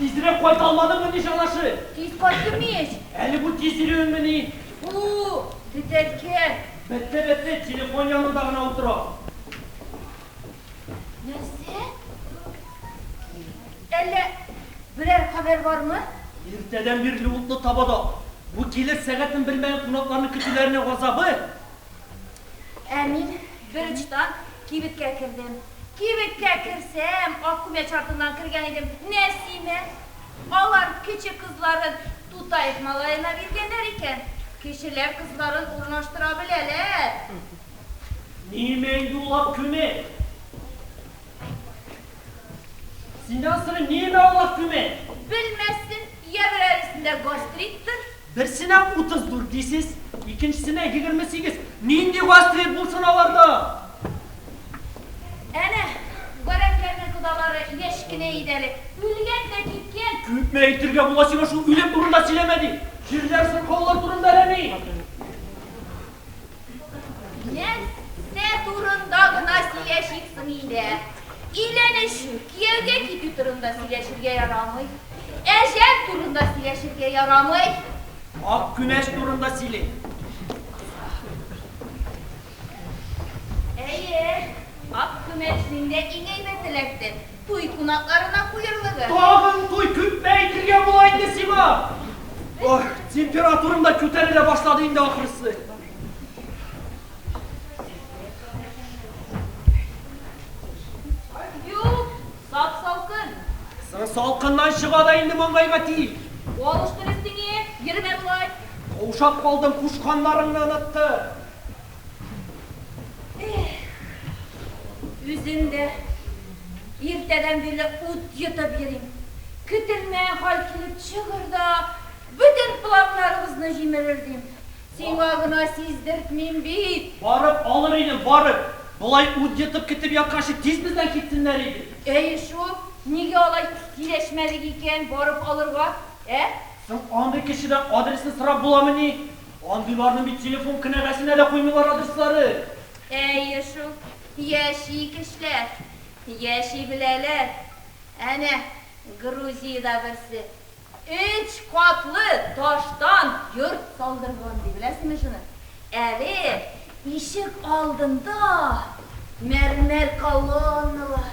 Тизрәк кайт алмадың мени шалашы? Тиз кайттым ич. Әле бу тиз йөрүең мени? Бу бетәткә. Бетте, бетте, телефон янында гына утыра. Нәрсә? Әллә берәр хәбәр бармы? Иртәдән бирле утлы табада. Бу килер сәгатен белмәгән кунакларны көтүләренә газабы. Ә мин бер очтан кибеткә кердем. Кибеткә керсәм, ак күмәч артыннан кергән идем, Нәсимә. Алар кече кызларын Тутаев малаена биргәннәр икән. Кешеләр кызларын урнаштыра беләләр. Ниме инде ул ак күмәч? Синнән сорыйм, ниме ул ак күмәч? Белмәссең, йә берәресендә гастриттыр, Берсенә утыз дүрт дисез, икенчесенә егерме сигез. Нинди васыять булсын аларда? Әнә, гарәпләрнең кодалары яшь кенә иде әле, үлгән дә киткән. Күпме әйтергә була сиңа шул үлем турында сөйләмә дип! Җирләр, сырхаулар турында әллә ни! Нәрсә турында гына сөйләшик соң инде? Өйләнешү, кияүгә китү турында сөйләшергә ярамый. Әҗәл турында сөйләшергә ярамый. Ак күмәч турында сөйлик. Әйе, ак күмәч миндә иң әйбәт эләкте. Туй кунакларына куерлыгы. Тагын туй күпме әйтергә була инде сиңа? Ох, температурам да күтәрелә башлады инде ахрысы. Юк, сап-салкын. Соң салкыннан чыга да инде маңгайга тиң. Алыштыр өстеңе, йөрмә болай. Каушап калдым, кушканнарыңны оныттым. Үзем дә иртәдән бирле ут йотып йөрим. Көтелмәгән хәл килеп чыгыр да, бөтен планнарыбызны җимерер, дим. Сиңа гына сиздертмим бит. Барып алыр идем, барып. Болай ут йотып көтеп ятканчы, тиз бездән китсеннәр иде. Әйе шул, нигә алай киләшмәдек икән барып алырга, ә? Соң андый кешедән адресны сорап буламыни? Андыйларны бит телефон кенәгәсенә дә куймыйлар адресларын. Әйе шул, яши кешеләр, яши беләләр. Әнә, Грузиядә берсе өч катлы таштан йорт салдырган, ди. Беләсеңме шуны? Әле ишек алдында мәрмәр колонналар,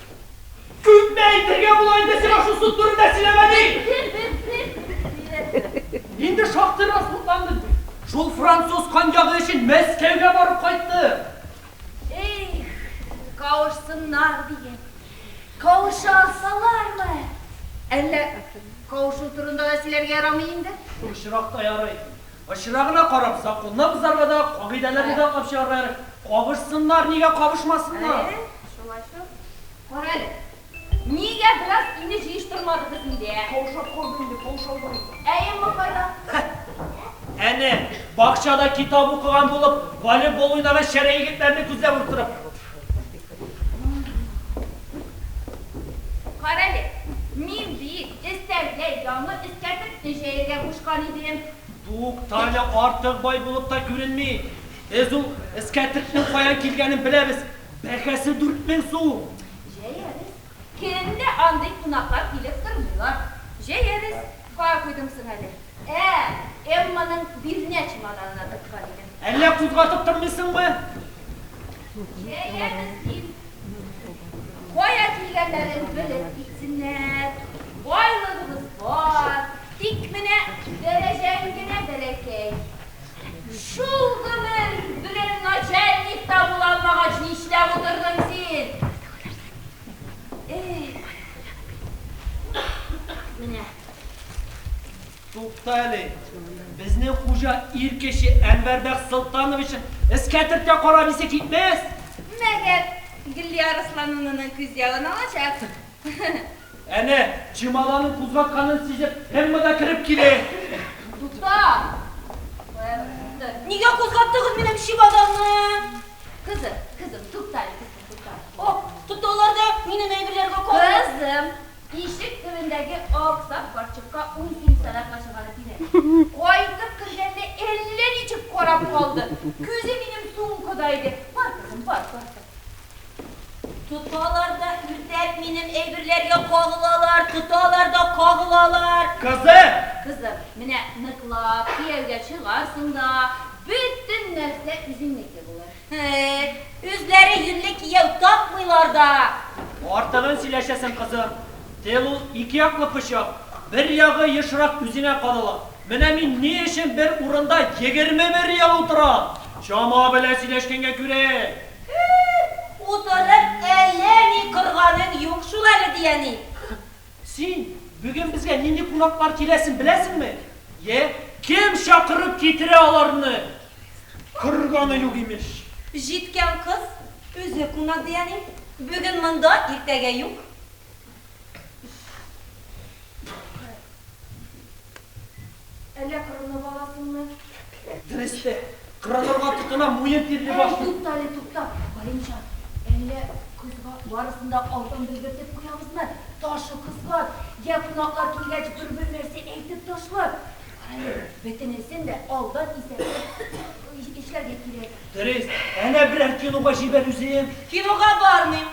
Күпме әйтергә була инде сиңа шул суд турында сөйләмә ди! Инде шактыйрак судландың бит. Шул француз коньягы өчен Мәскәүгә барып кайтты. Их, кавышсыннар диген. Кавыша алсалармы? Әллә кавышу турында да сөйләргә ярамый инде? Шул очракта ярый. Очрагына карап, законны бозарга да, кагыйдәләрне дә атлап чыгарга ярый. Кавышсыннар, нигә кавышмасыннар? Әйе. Шулайсың? Кара әле. Нигә бераз инде җыештырмадыгыз инде, ә? Каушап калдым инде, каушадым. Ә Эмма кайда? Әнә, бакчада китап укыган булып, волейбол уйнаган шәрә егетләрне күзләп утырып. Кара әле, мин бит өстәлгә яңа эскәртекне җәяргә кушкан идем. Тукта әле, артык бай булып та күренми. Без ул эскәртекнең каян килгәнен беләбез. Бәһасе дүрт мең сум! Җәярез. Көн дә андый кунаклар килеп тормыйлар. Җәярез. Кая куйдың соң әле? Ә, Эмманың бирнә чемоданына тыккан идем. Әллә кузгатып тормыйсыңмы? Җәярез, дим. Кая килгәннәрен белеп китсеннәр. Байлыгыбыз бар, тик менә дәрәҗәң генә бәләкәй. Шул гомер белән начальник та була алмагач нишләп утырдың син? Эх. Менә. Тукта әле. Безнең хуҗа ир кеше Әнвәрбәк Солтановичын эскәтертә карап исе китмәс. Мәгәр Глиярысланунының күз ягын алачак. Әнә, чемоданын кузгатканын сизеп, Эмма да кереп килә. Тукта! Нигә кузгаттыгыз минем чемоданны? Кызым, кызым, тукта әле, кызым, тукта. О, тукта, аларда минем әйберләргә карыйм. Кызым, ишек төбендәге ак сак карчыкка ун тиен сарык ачылганы тимә. Кайтып кергәндә әллә ничек карап калды. Күзе минем сумкада иде. Бар, кызым, бар, бар, бар. Тоталар да үртәп минем әйберләргә кагылалар, тоталар да кагылалар. Кызым! Кызым, менә ныклап кияүгә чыгарсың да, бөтен нәрсә үзеңнеке булыр. Һе, үзләре юньле кияү тапмыйлар да. Артыгын сөйләшәсең, кызым. Тел ул ике яклы пычак, бер ягы ешрак үзеңә кадала. Менә мин ни өчен бер урында егерме бер ел утырам? Чама белән сөйләшкәнгә күрә, Хе-хе-хе! Утырып әллә ни корганың юк шул әле, ди әни. Син бүген безгә нинди кунаклар киләсен беләсеңме? Йә. Кем чакырып китерә аларны? Корганы юк, имеш. Җиткән кыз үзе кунак, ди әни. Бүген монда, иртәгә юк. Әллә кырынып аласыңмы? Дөрес тә, кырынырга тотына, муен тирли башлый. Әй, туктале, тукта, Галимҗан, әллә козга барысын да алдан белгертеп куябызмы? Ташы кызган, йә кунаклар килгәч бер-бер нәрсә әйтеп ташлар. Карале, бөтенесен дә алдан исәпләп эшләргә кирәк. Дөрес, әнә берәр кинога җибәр үзен. Кинога бармыйм.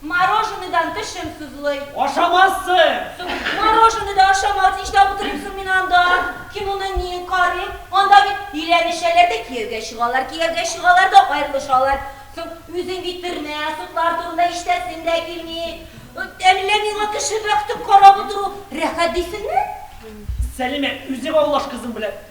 Мороженыйдан тешем сызлый. Ашамассың! Су, мороженый да ашамас, нишләп утырыйм соң мин анда? Кем моны ни карый? Анда бит өйләнешәләр дә кияүгә чыгалар, кияүгә чыгалар да аерылышалар. Соң, үзең бит төрмә, судлар турында ишетәсең дә килми. Әллә миңа кеше бәхетен карап утыру рәхәт дисеңме? Сәлимә, үзең аңлаш кызың белән.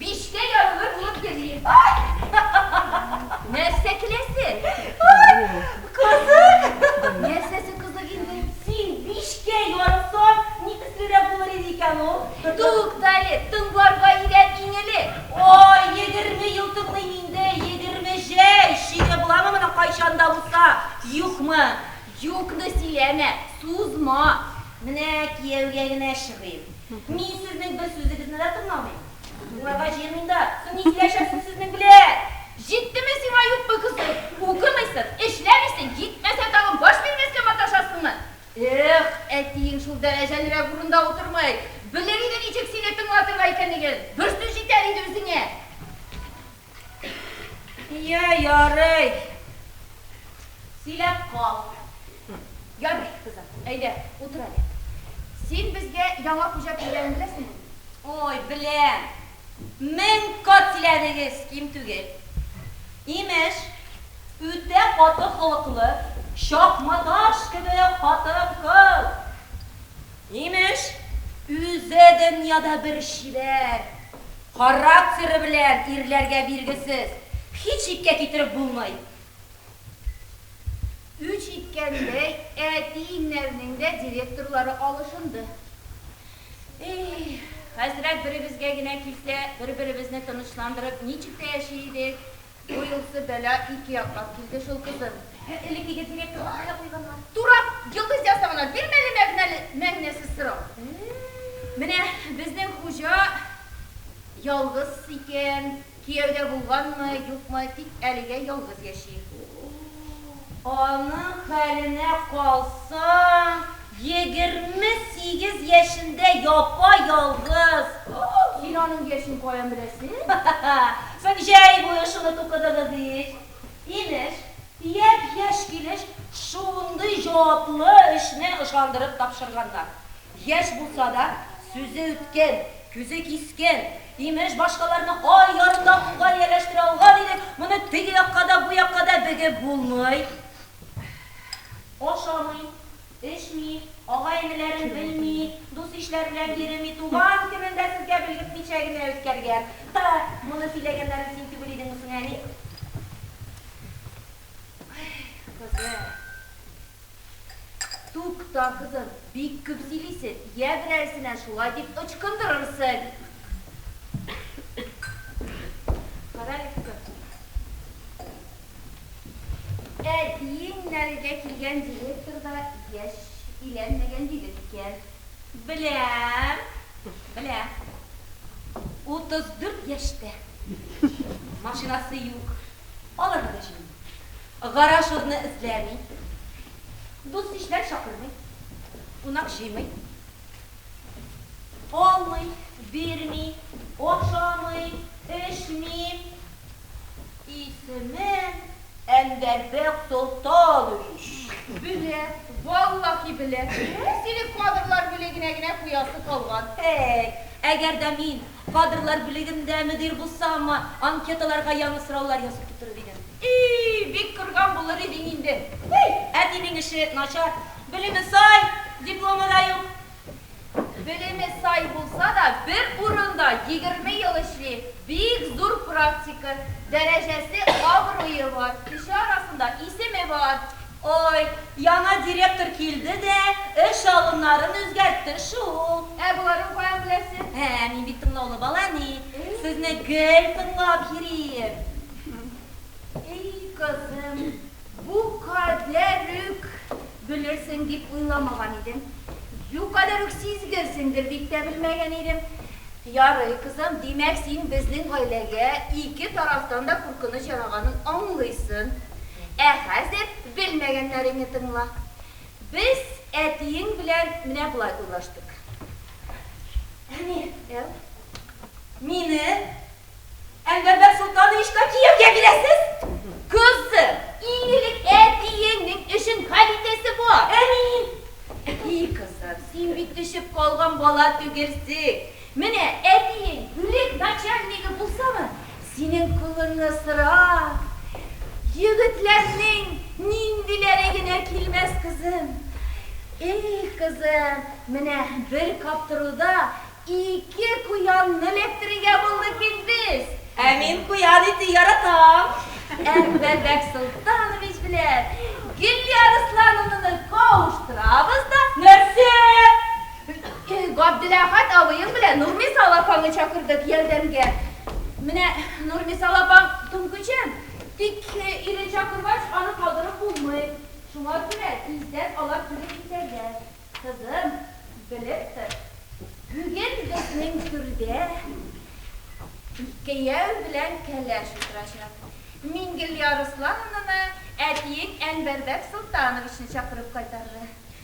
Бишкә ярулы булып йөрим. Нәрсә көләсе? Кызык! Нәрсәсе кызык инде? Син бишкә ярылсаң, ни төслерәк булыр иде икән ул? Тукта әле, тыңларга өйрәтим эле. Ай, егерме ел тыңлыйм инде, егерме җәй чиге буламы моның кайчан да булса, юкмы? Юкны сөйләмә, сузма. Менә кияүгә генә чыгыйм. Мин сезнең бер сүзегезне дә тыңламыйм. Тыңларга җыенмыйм да. Соң ни сөйләшәсез сезнең белән? Җиттеме сиңа, юкмы, кызый? Укымыйсың, эшләмисең, җитмәсә тагын баш бирмәскә маташасыңмы? Эх, әтиең шул дәрәҗәлерәк урында утырмый. Белер иде ничек сине тыңлатырга икәнлеген. Бер сүз җитәр иде үзеңә. Я, ярый. Сөйләп кал. Ярый, кызым, әйдә, утыр әле. Син безгә яңа хуҗа килгәнен беләсеңме? Ой, беләм. Мең кат киләдегез, ким түгел. Имеш, үтә каты холыклы, чакма таш кебек хатын-кыз. Имеш, үзе дөньяда бер чибәр. Характеры белән ирләргә биргесез, һич ипкә китереп булмый. Үч иткәндәй, әти-иннәрнең дә директорлары алышынды. Эй, хәзрәт беребезгә генә килсә, бер-беребезне тынычландырып, ничек тә яши идек. Бу юлсы бәла ике яклап килде шул, кызым. Һе, элеккеге директорга кая куйганнар? Турап, Йолдыз ясавына бирмәле мәгънәле, мәгънәсез сорау. Менә безнең хуҗа ялгыз икән, кияү дә булганмы, юкмы, тик әлегә ялгыз яши. Аның хәленә калсаң, егерме сигез яшендә япа-ялгыз. Син аның яшен каян беләсең? Соң җәй буе шуны тукыдыгыз ич. Имеш, төяп яшь килеш шундый җаваплы эшне ышандырып тапшырганнар. Яшь булса да, сүзе үткен, күзе кискен, Имеш, башкаларны ай ярында кулга ияләштерә алган идек, моны теге якка да, бу якка да бегеп булмый. Ашамый, эчми, агай-энеләрен белми, дус-ишләр белән йөреми, туган көнен дә сезгә белгертмичә генә үткәргән. Һа, моны сөйләгәннәрен син түгел идеңме соң, әни? Ай, кызым. Тукта, кызым, бик күп сөйлисең, йә берәрсенә шулай дип ычкындырырсың. Карале, кызым. Әтиең нәргә килгән директор да яшь иләнмәгән дидең икән. Беләм, беләм. Утыз дүрт яшьтә. Машинасы юк. Аларга да җиңел. Гараж урыны эзләми, дус-ишләр чакырмый, кунак җыймый. Алмый, бирми, ашамый, эчми. Исемен Әнвәр бәк тота алу ич. Белә, валлахи белә. Сине кадрлар бүлегенә генә куясы калган. Әй, әгәр дә мин Кадрлар бүлегендә мөдир булсам, анкеталарга яңа сораулар язып тутырыр идем. И-и, бик курган булыр идең инде. Һи, әтинең эше начар. Белеме сай, дипломы да юк. Белеме сай булса да, бер урында егерме ел эшли, бик зур практика, дәрәҗәсе, абруе бар, кеше арасында исеме бар. Ой, яңа директор килде дә, эш алымнарын үзгәртте шул. Ә боларның каян беләсе? Ә, мин бит тыңлаулы бала, әни. Сезне гел тыңлап йөрим. Әй, кызым, бу кадәр үк белерсең дип уйламаган идем. Бу кадәр үк сизгерсеңдер дип тә белмәгән идем. Ярый, кызым, димәк, син безнең гаиләгә ике тарафтан да куркыныч яраганын аңлыйсын. Ә хәзер белмәгәннәреңне тыңла. Без әтиең белән менә болай уйлаштык. Әни. Әу. Мине Әнвәрбәк солтан ишка кияүгә бирәсез? Кызым, иң элек әтиеңнең эшен хәл итәсе бар. Әни. И кызым, син бит төшеп калган бала түгелсең. Менә әтиең бүлек начальнигы булсамы, синең кулыңны сорап, егетләрнең ниндиләре генә килмәс, кызым. Их, кызым, менә бер каптыруда ике куянны эләктерергә булдык бит без! Ә мин куян ите яратам! Ә Бәбәк Солтанович белән Гөлия Руслановнаны кавыштырабыз да. Нәрсә? Габделәхәт абыең белән Нурмисал апаңны чакырдык ярдәмгә. Менә Нурмисал апаң туңкүчән, тик ирен чакыргач, аны калдырып булмый. Шуңа күрә тиздән алар килеп җитәрләр. Кызым, белеп тор, бүген безнең түрдә кияү белән кәләш утырачак. Мингелия Руслановнаны әтиең Әнвәрбәк Солтановичны чакырып кайтарды.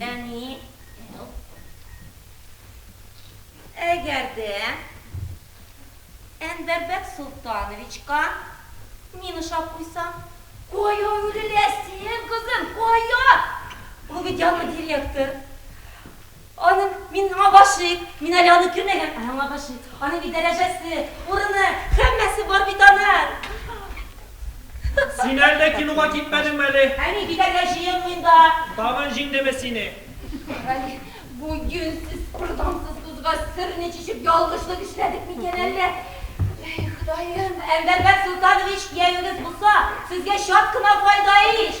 Әни, әл. Әгәр дә Әнвәр Бәксолтановичка мин ошап куйсам. Кая үреләсең, кызым, кая? Ул бит яңа директор. Аның, мин аңа гашыйк, мин әле аны күрмәгән, ә аңа гашыйк. Аның бит дәрәҗәсе, урыны, һәммәсе бар бит аның. Син әллә кинога китмәдеңме әле? Әни, китәргә җыенмыйм да. Тагын җиңдеме сине? Әй, бу юньсез, куртансыз кызга серне чишеп ялгышлык эшләдек микән әллә? Әй, Ходаем! Әнвәрбәк Солтанович киявегез булса, сезгә чат кына файда ич!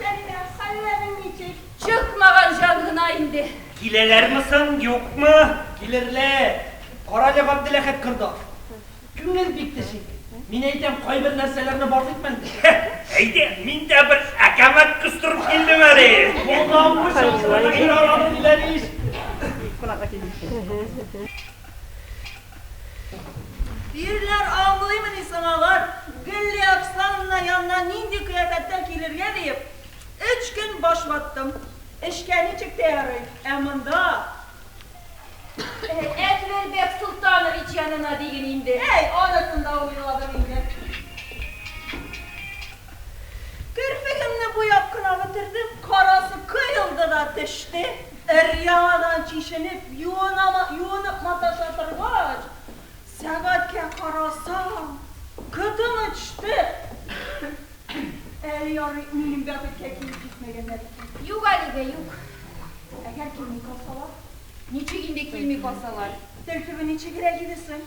Зәһрә, хәлләрең ничек? Чыкмаган җан гына инде. Киләләрме соң, юкмы? Килерләр. Карале, Габделәхәт корда. Күңел бик тешик. Мин әйтәм, кайбер нәрсәләрне барлыйк мәнде. Әйдә, мин дә бер әкәмәт кыстырып килдем әле. Булдымы, чалбарны кире аралый диләр ич. Ирләр аңлыймыни соң алар, Гөлли Оксановна янына нинди кыяфәттә килергә диеп, өч көн баш ваттым. Эшкә ничек тә ярый, ә монда. Әнвәрбәк Солтанович янына диген инде. Әй, анысын да уйладым инде. Керфегемне буяп кына бетердем, карасы коелды да төште. Өр-яңадан чишенеп, юынып маташа торгач, сәгатькә карасам, котым очты. Әле ярый, минем бәхеткә киеп җитмәгәннәр икән. Юк әлегә, юк. Әгәр килми калсалар? Ничек инде килми калсалар? Тел төбе ничегрәк иде соң?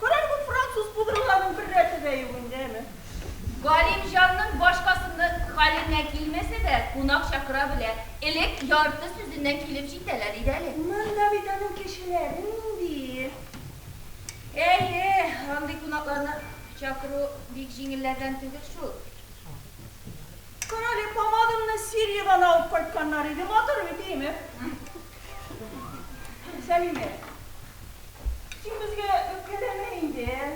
Кораль бу француз пудрларының бер рәте дә юк инде, әме. Галимҗанның башкасының хәленә килмәсә дә, кунак чакыра белә. Элек ярты сүзеннән килеп җитәләр иде әле. Монда бит аның кешеләре нинди! Әйе, андый кунакларны чакыру бик җиңелләрдән түгел шул. Карале, помадамны Сириядән алып кайтканнар иде, матур бит, әйеме? Сәлимә. Син безгә үпкәләмә инде, ә?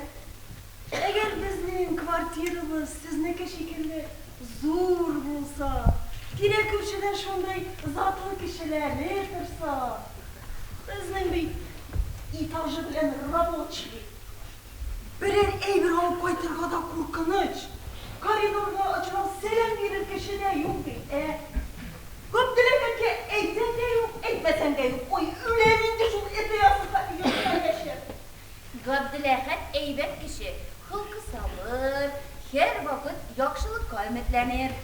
Әгәр безнең квартирабыз сезнеке шикелле зур булса, тирә-күршедә шундый затлы кешеләре торса. Безнең бит этажы белән рабочий. Берәр әйбер алып кайтырга да куркыныч. Коридорда очрап сәлам бирер кеше дә юк бит, ә? Күп теләгәнгә әйтсәң дә юк, әйтмәсәң дә юк. Ой, үләм инде шул эте ясыса, йортка яшер. Габделәхәт әйбәт кеше, холкы сабыр, һәрвакыт яхшылыкка өметләнер.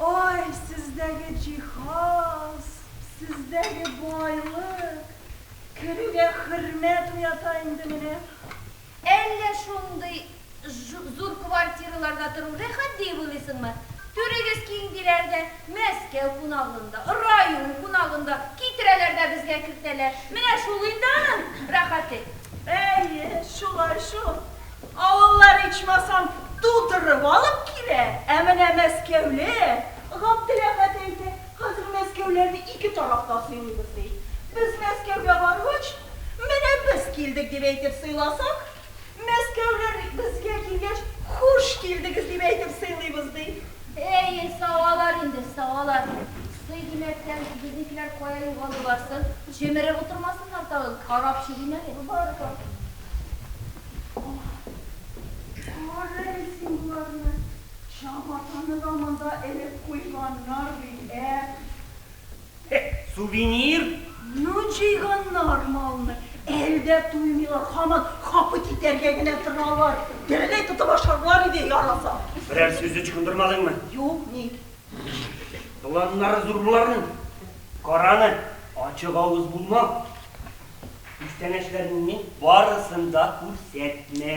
Ай, сездәге җиһаз, сездәге байлык! Керүгә хөрмәт уята инде менә. Әллә шундый зур квартираларда тору рәхәт диеп уйлыйсыңмы? Түрегез киң диләр дә, Мәскәү кунагын да, район кунагын да китерәләр дә безгә кертәләр. Менә шул инде аның рәхәте. Әйе, шулай шул. Авыллар ичмасам тутырып алып килә. Ә менә мәскәүле Габделәхәт әйтә, Хәзер Мәскәүләрне ике тараф та сыйлыйбыз, ди. Без Мәскәүгә баргач, Менә без килдек, дип әйтеп сыйласак, Мәскәүләр безгә килгәч, Хуш килдегез, дип әйтеп сыйлыйбыз, ди. Әйе, савалар инде, савалар. Сый димәктән, безнекеләр кая югалдылар соң? Җемереп утырмасыннар тагын, карап чыгыйм әле. Бар, бар. Кара әле син боларны. Чабатаны да монда элеп куйганнар бит, ә? Э, сувенир? Ну, җыйганнар малны. Әле дә туймыйлар, һаман хапы китәргә генә торалар. Тереләй тотып ашарлар иде, яраса. Берәр сүз ычкындырмадыңмы? Юк, ник? Планнары зур боларның. Караны, ачык авыз булма. Күчтәнәчләреңнең барысын да күрсәтмә.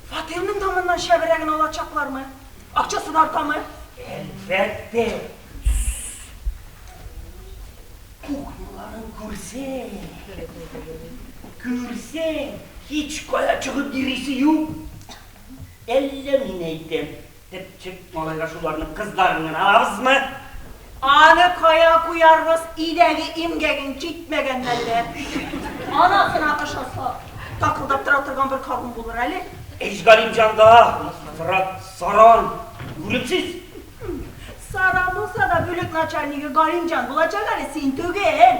Фатирның тамыннан чәберәген алачаклармы? Акчасы да артамы? Әлбәттә. Кухняларын күрсәң, күрсәң, һичкая чыгып йөрисе юк. Әллә мин әйтәм. Тепчек малайга шуларның кыздарын гына алабызмы? Аны кая куярбыз, идәге имгәгең җитмәгәнме әллә? Ана гына ошаса, такылдап тора торган бер кабым булыр әле. Ич Галимҗанда, Фырат саран, үлемсез. Саран булса да бүлек начальнигы Галимҗан булачак әле, син түгел.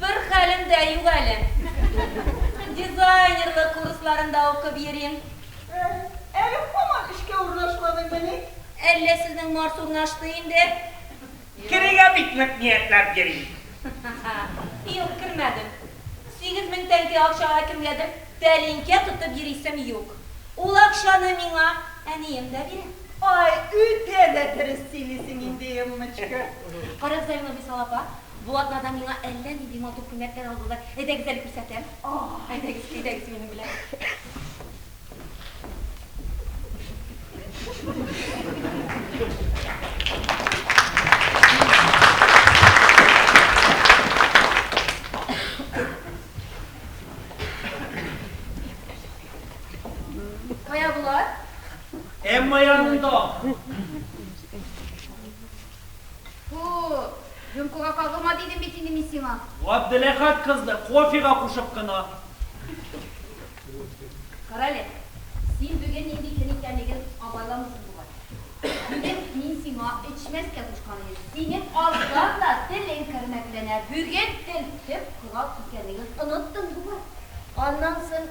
Бер хәлем дә юк әле. Дизайнерлык курсларында укып йөрим. Әһ, әле һаман эшкә урнашмадыңмыни? Әллә сезнең Марс урнашты инде? Керергә бик нык ниятләп йөрим. Юк, кермәдем. Сигез мең тәңкә акчага кемгәдер тәлинкә тотып йөрисем юк. Ул акчаны миңа әнием дә бирә. Ай, үтә дә дөрес сөйлисең инде, Эммочка. Карагыз әле, Нурбисала апа, Бу атнада миңа әллә нинди матур күлмәкләр алдылар. Әйдәгез әле күрсәтәм. Әйдәгез, әйдәгез минем белән. Кая болар? Эмма янында. Фу, рюмкага кагылма дидем бит инде мин сиңа. Габделәхәт кызны кофега кушып кына. Карале, син бүген нинди көн икәнлеген абайламыйсың бугай. Бүген мин сиңа эчмәскә кушкан идем. Синең аздан да телең кермәкләнә, бүген тел төп корал икәнлеген оныттың бугай. Аннан соң.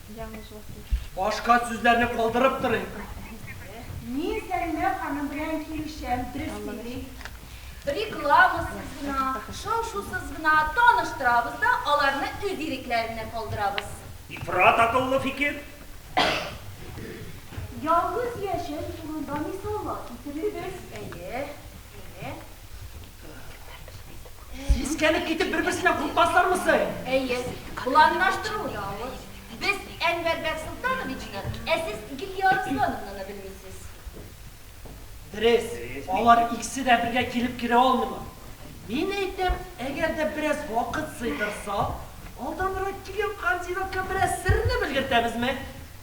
Яңы җылыту. Башка сүзләрне калдырып торыйк. Мин Сәлимә ханым белән килешәм, дөрес сөйли. Рекламасыз гына, шау-шусыз гына таныштырабыз да аларны үз ирекләренә калдырабыз. Ифрат акыллы фикер. Ялгыз яшәү турында мисаллар китерегез. Әйе, әйе. Сискәнеп китеп бер-берсенә куркмаслармы соң? Әйе, планлаштыру да авыр. Без Әнвәр Бәксолтановичны, ә сез Гөлия Арыслановнаны белмисез. Дөрес, алар икесе дә бергә килеп керә алмыйлар. Мин әйтәм, әгәр дә бераз вакыт сыйдырсак, алданрак килгән кандидатка бераз серне белгертәбезме?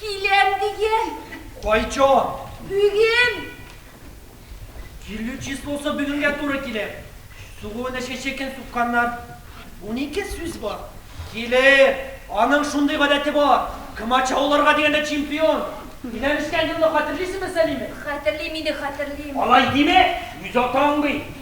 Киләм дигән. Кайчан? Бүген. Килү числосы бүгенгә туры килә. Сугуын эчке чекен сукканнар. Унике сүз бар. Килер. Аның шундый гадәте бар. Комачау алырга дигәндә чемпион. Өйләнешкән елны хәтерлисеңме, Сәлимә? Хәтерлим инде, хәтерлим. Алай диме? Үз атаң бит.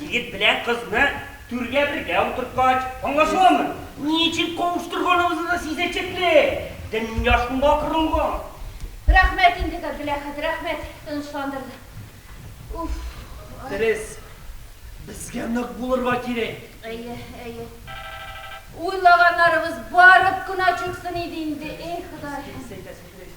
Егет белән кызны түргә бергә утырткач, аңлашыламы? Ничек кавыштырганыбызны да сизәчәкле! Дөнья шуңа корылган. Рәхмәт инде, Габделәхәт, рәхмәт, тынычландырды. Уф, ай. Дөрес, безгә нык булырга кирәк. Әйе, әйе. Уйлаганнарыбыз барып кына чыксын иде инде, әй, Ходай. Дөрес әйтәсең, дөрес.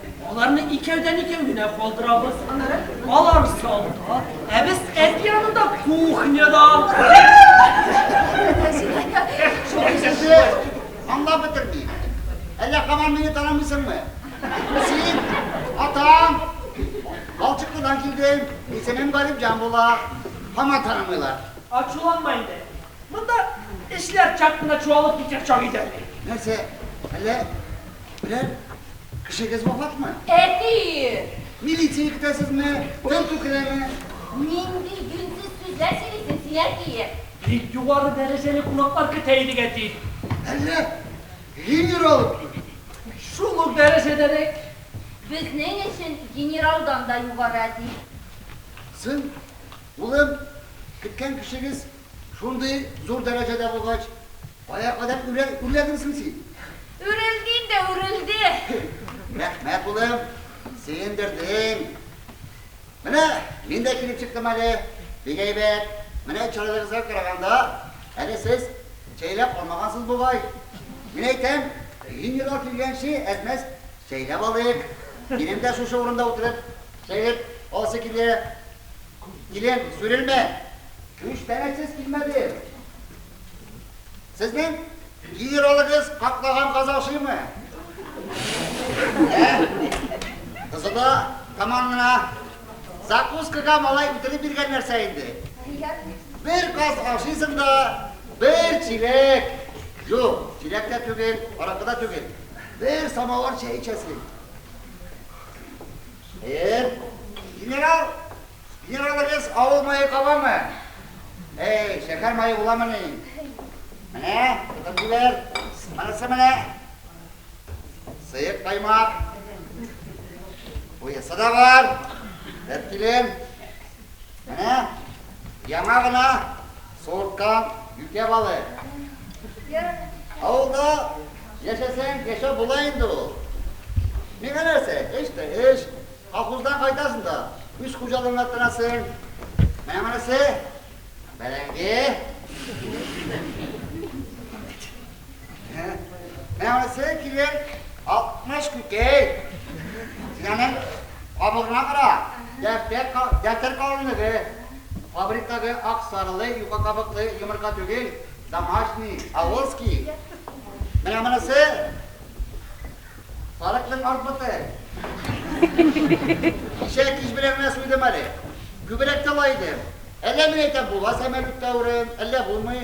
Аларны икәүдән-икәү генә калдырабыз. Алар залда, ә без әти янында кухняда. Әйтәсе, аңлап бетермим. Әллә һаман мине танымыйсыңмы? Син, атаң, Балчыклыдан килдем, исемем Галимҗан була. Һаман танымыйлар. Ачуланма инде. Монда эшләр чак кына чуалып китәр чак иде әле. Нәрсә, әллә Бер кешегез вафатмы? Әти! Милиция көтәсезме? Тентү керәме? Нинди юньсез сүзләр сөйлисең син, әти? Бик югары дәрәҗәле кунаклар көтә идек, әти. Әллә генерал килде? Шул ук дәрәҗәдәрәк. Безнең өчен генералдан да югары, әти. Сын, улым, көткән кешегез Шундый зур дәрәҗәдә булгач, кая кадәр үрләдең соң син? Үрелдим дә үрелде. Рәхмәт, улым, сөендердең. Менә мин дә килеп чыктым әле. Бик әйбәт. Менә чырайларыгызга караганда, әле сез чәйләп алмагансыз бугай. Мин әйтәм, Венера килгәнче әз-мәз чәйләп алыйк. Минем дә шушы урында утырып чәйләп аласы килә. Килен, сүрелмә! Үч тәңәчес килмәде. Сезнең генералыгыз каклаган казакшымы? Ә? Кызыда таман гына закускага малай үтереп биргән нәрсә инде. Бер каз ашыйсың да, бер чиләк, юк, чиләк тә түгел, аракы да түгел, бер самавыр чәй эчәсең. Эм, генерал, генералыгыз авыл мае кабамы? Әй, шәһәр мае буламыни? Менә, тотып җибәр. Монысы менә. Сыек каймак. Буясы да бар. Бер килем. Менә яңа гына суырткан юкә балы. Авылда яшәсәң, яшәп була инде ул. Миңа нәрсә, эш тә эш. Колхоздан кайтасың да, үз хуҗалыгыңа тынасың. Менә монысы бәрәңге. Мәгәсе килер, алтмыш күкәй. Син аның кабыгына кара, дәфтәр калынлыгы. Фабриктагы ак сарылы юка кабыклы йомырка түгел, домашний, авылский. Менә монысы сарыкның арт боты. Кичә кич белән генә суйдым әле. Күбрәк тә лай идем. Әллә мин әйтәм, була сәмәлүк тәвре, әллә булмый.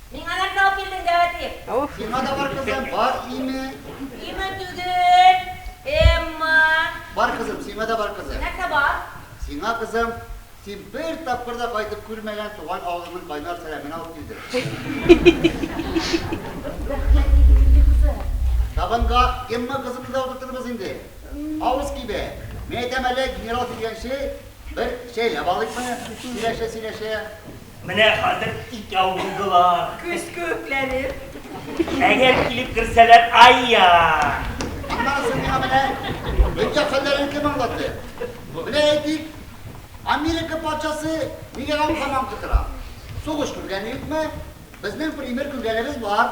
Миңа нәрсә алып килдең, Дәватиев? Уф. Миңа да бар, кызым, бар име? Име түгел, Эмма. Бар, кызым, сиңа да бар, кызым. Нәрсә бар? Сиңа, кызым, син бер тапкыр да кайтып күрмәгән туган авылыңның кайнар сәламен алып килдем. Рәхмәт, диде Лилия кызы. Табынга Эмма кызыбызны да утыртырбыз инде. Авыз кибә. Мин әйтәм әле, генерал килгәнче, бер чәйләп алыйкмы? Сөйләшә-сөйләшә. Менә хәзер икәү булдылар. Көз күкләнеп. Әгәр килеп керсәләр, айя! Аннан соң миңа менә дөнья хәлләрен кем аңлатты? Менә әйтик, Америка патшасы нигә һаман кычкыра? Сугыш күргәне юкмы? Безнең пример күргәнебез бар.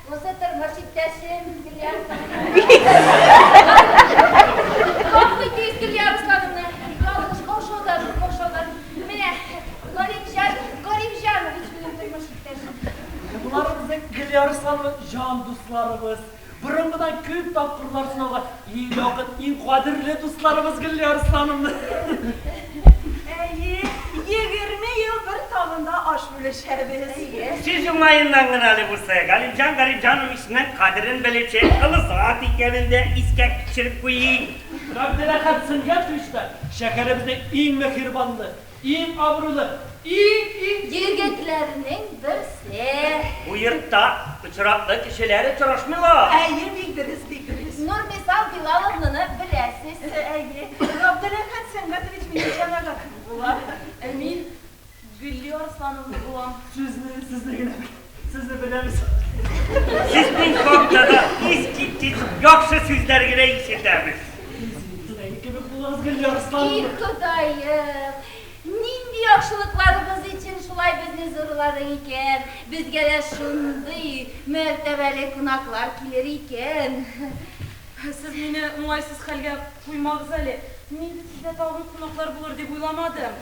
Бусы тормыш иптәшем, Гөлия Гөлия Руслановна, җан дусларыбыз, борынгыдан күп тапкырлар сынауга Иң якын, иң кадерле дусларыбыз Гөлли Арслановна. Әйе, егерме ел бер табында аш бүлешәбез. Сүз уңаеннан гына әле булса, Галимҗан Галимҗановичның кадерен белүче олы зат икәнен дә искә төшереп куйыйк. Габделәхәт Сөнгатович та шәһәребезнең иң меһербанлы, Иң абруйлы, иң-иң. Егетләрнең берсе. Бу йортта очраклы кешеләр очрашмыйлар. Әйе, бик дөрес, бик дөрес. Нурмисал Билаловнаны беләсез. Әйе. Габделәхәт Сәнгатович минем җәмәгатем була. Ә мин Гөлия Арслановна булам. Сүзне сездә генә бел. Сезне беләбез. Сезнең хакта да искиткеч яхшы сүзләр генә ишетәбез. Тудайны кебек булыгыз, Гөлия Арслановна. И Ходаем, нинди яхшылыкларыбыз өчен шулай безне зурладың икән? Безгә дә шундый мәртәбәле кунаклар килер икән. Сез мине уңайсыз хәлгә куймагыз әле. Мин бит сездә тагын кунаклар булыр дип уйламадым.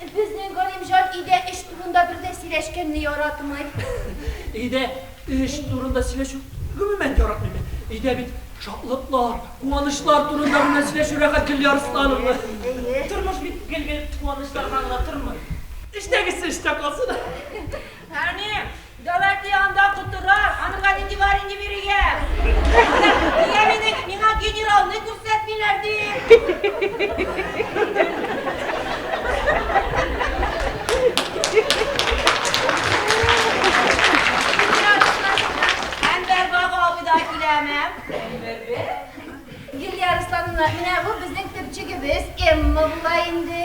Безнең Галимҗан өйдә эш турында бер дә сөйләшкәнне яратмый. Өйдә эш турында сөйләшү гомумән яратмыйм мин. Өйдә бит шатлыклар, куанычлар турында гына сөйләшү рәхәт, Гөлия Руслановна. Тормыш бит гел-гел куанычларга гына тормый. Эштәгесе эштә калсын. Әни! Давайте анда котырар, анырга нинди бар инде бирегә. Нигә мине, миңа генералны күрсәтмиләр Илья Руслановна, менә бу безнең төпчегебез Эмма була инде.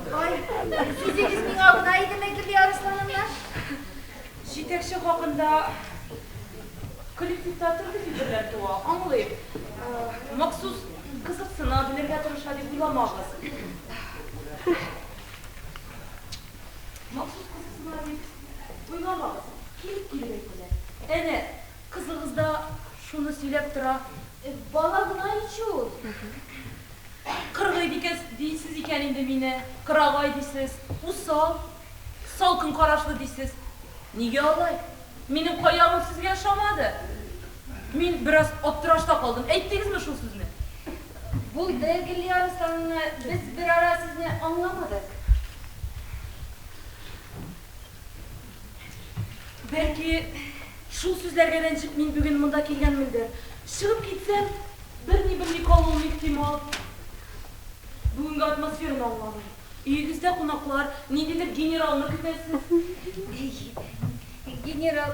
Ай, сүзегез миңа гына идеме, Гөлия Арыслановна? Җитәкче хакында коллективта төрле фикерләр туа, аңлыйм. Махсус кызыксына, белергә тырыша дип уйламагыз. Махсус кызыксына дип уйламагыз. Килеп-килеп әйтәләр. Әнә, кызыгыз да шуны сөйләп тора. Бала гына ич ул. Кыргый дикәс дисез икән инде мине, кырагай дисез, усал, салкын карашлы дисез. Нигә алай? Минем каявым сезгә ошамады? Мин бераз аптырашта калдым. Әйттегезме шул сүзне? Булды, Гөлиарыс анна, без берара сезне аңламадык. Бәлки, шул сүзләргә рәнҗеп мин бүген монда килгәнмендер. Чыгып китсәм, берни белми калуым ихтимал. Бүгенге атмосфераны аңламыйм. Өегездә кунаклар, ниндидер генералны көтәсез. Әйе, әйе, генерал.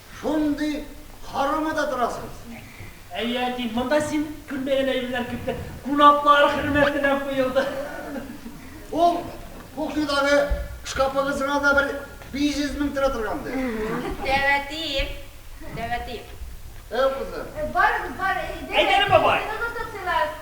Шундый карама да торасыз. Әй, әти, монда син күрмәгән әйберләр күптер. Кунаклар хөрмәтенә куелды. Ул кухнядагы шкафыгыз гына да бер 500 мең тора торгандыр. Тәвәтием, тәвәтием. Әу, кызым. Барыгыз, бар, әйдәгез, сыйныгыз да сыйлагыз.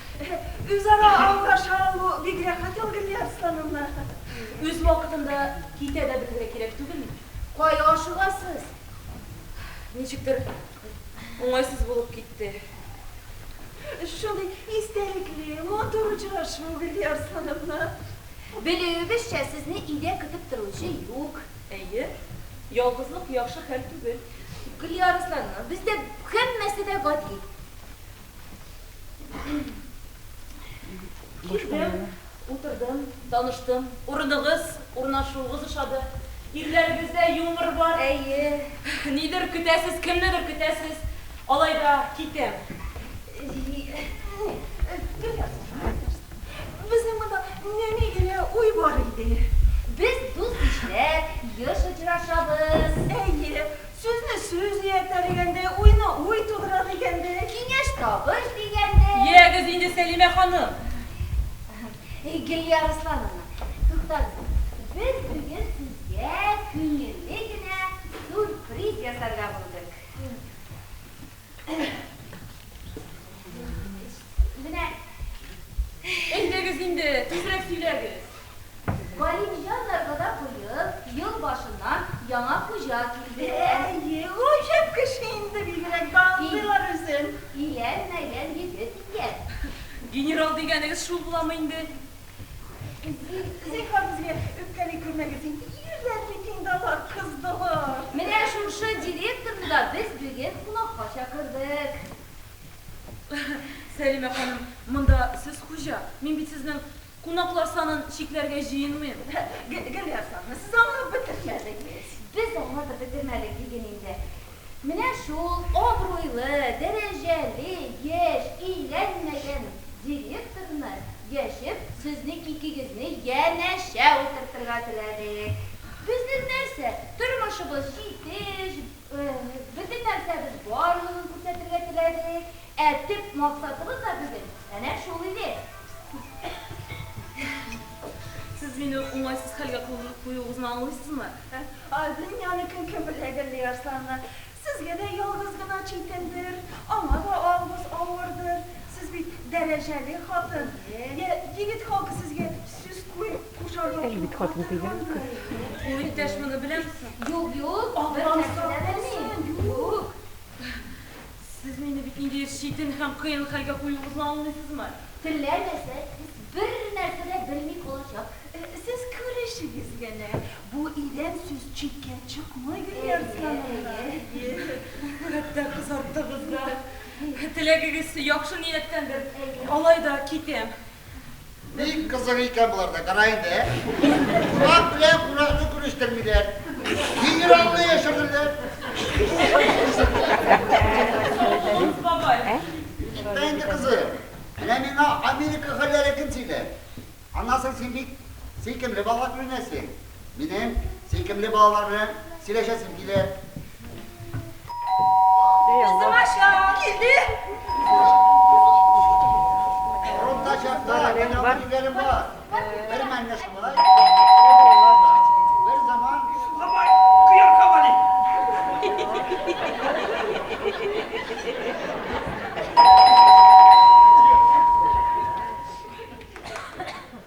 Үзара аңлаша алу бик рәхәт ул, Гөлия Арслановна. Үз вакытында китә дә белергә кирәк түгелме? Кая ашыгасыз? Ничектер уңайсыз булып китте. Шундый истәлекле, матур очрашу, Гөлия Арслановна. Белүебезчә, сезне өйдә көтеп торучы юк. Әйе, ялгызлык яхшы хәл түгел. Гөлия Арслановна, бездә һәммәсе дә гади. Килдем, утырдым, таныштым. Урыныгыз, урнашуыгыз ошады. Ирләрегездә юмор бар. Әйе. Нидер көтәсез, кемнедер көтәсез. Алай да китәм. Гел язмыш. Безнең монда нәни генә уй бар иде. Без дус-ишләр, еш очрашабыз. Әйе, Сүзне сүз ияртәр игәндә, уйны уй тудырыр игәндә, киңәш табыш дигәндә. Ягез инде, Сәлимә ханым. Әһәм. Гөлия Руслановна, туктагыз. Без бүген сезгә күңелле генә сюрприз ясарга булдык. Менә. Әйдәгез инде, тизрәк сөйләгез. Галимҗаннарга да быел ел башыннан яңа хуҗа килде. Әйе, гаҗәп кеше инде, бигрәк тә аңлыйлар үзен. Илән-мәлән егет икән. Генерал дигәнегез шул буламы инде? Зинһар, безгә үпкәли күрмәгез инде, ирләр митингдалар, кыздылар. Менә шушы директорны да без бүген кунакка чакырдык. Сәлимә ханым, монда сез хуҗа, мин бит сезнең кунаклар санын чикләргә җыенмыйм. Гөлия Хәсановна, сез аңлап бетермәдегез. Без аңлатып бетермәдек, диген инде. Менә шул абруйлы, дәрәҗәле, яшь, өйләнмәгән директорны яшер, сезне икегезне янәшә утыртырга теләдек. Безнең нәрсә, тормышыбыз җитеш, бөтен нәрсәбез барлыгын күрсәтергә теләдек. Ә төп максатыбыз да бүген әнә шул иде. Сез мине уңайсыз хәлгә куюыгызны аңлыйсызмы? Ә дөньяны кем кем белә, Гөлли Арсланна? Сезгә дә ялгыз гына читендер, аңа да авыз авырдыр. Сез бит дәрәҗәле хатын. Йә, егет халкы сезгә сүз кушарга курка торгандыр. Ул иптәш моны беләм. Юк, юк, бернәрсә дә белми. Юк. Сез мине бит инде читен һәм кыен хәлгә куюыгызны аңлыйсызмы? Теләмәсә, сез бер нәрсә дә белми калачак. Сез күрешегез генә. Бу идән сүз читкә чыкмый, Гөлнарис ханымнар. Әйе, әйе. Хәтта кызарттыгыз да. Теләгегез яхшы нияттәндер. Алай да китәм. Бик кызык икән боларда, кара инде, ә? Кунак белән кунакны күрештермиләр. Генералны яшерделәр. Юк, бабай. Әйтмә инде, кызы. Менә миңа Америка хәлләре кем сөйләр? Аннан соң син бик сөйкемле бала күренәсең. Минем сөйкемле балаларым, сөйләшәсем килер.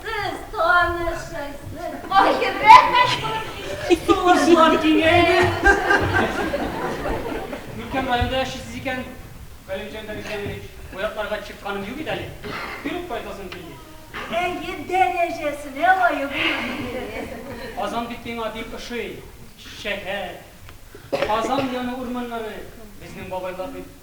Сез танышырсыз. Аеры. Тулышлар киңәйде. Нуркәм, районда яшисез икән, Галимҗан Галимҗанович, бу якларга чыкканым юк иде әле. Йөреп кайтасым килде. Әйе, дәрәҗәсенә лаек булып килдегез. Казан бит миңа бик ошый. Шәһәр, Казан яны урманнары. Безнең бабайлар бит.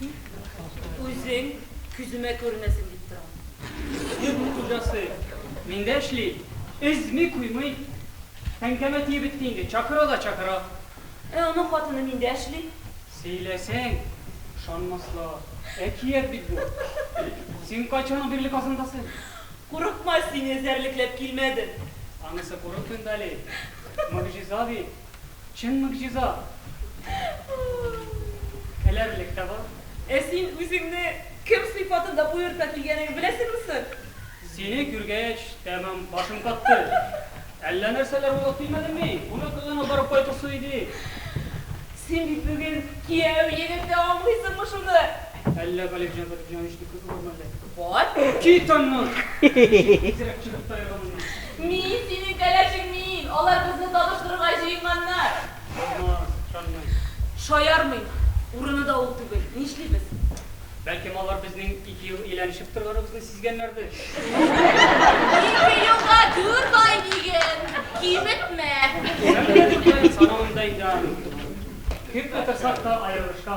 Мин үзең күземә күренәсең дип торам. Йортның хуҗасы миндә эшли, өзми, куймый. Тәңкәмә тиеп бетте инде, чакыра да чакыра. Ә аның хатыны миндә эшли. Сөйләсәң, ышанмаслар, әкият бит бу. Син кайчан бирле Казандасың? Курыкма, сине эзәрлекләп килмәдем. Анысы курыкмыйм да әле, могҗиза бит. Чын могҗиза! Көләрлек тә бар. Ә син үзеңне кем сыйфатында боерта килгәнеңне беләсеңме соң? Сине күргәч, тәмам башым катты. Әллә нәрсәләр уйлап килмәдем мин? Кунакханәгә барып кайтасы иде. Син бит бүген кияү егете, аңлыйсыңмы шуны? Әллә Галимҗан Галимҗанович дип кызы бармы әллә? Бар. Кит аннан! Тизрәк чыгып та яза моннан. Мин, синең кәләшең мин! Алар безне табыштырырга җыенганнар! Булмас, ышанмыйм. Шаярмыйм. Урыны да ул түгел. Нишлибез? Бәлкем алар безнең ике ел ияләнешеп торганыбызны сизгәннәрдер? Ике елга дүрт ай диген! Киметмә! Киметмә, дүрт ай, санамыйм да инде аны. Кем котырсак та аерылышка.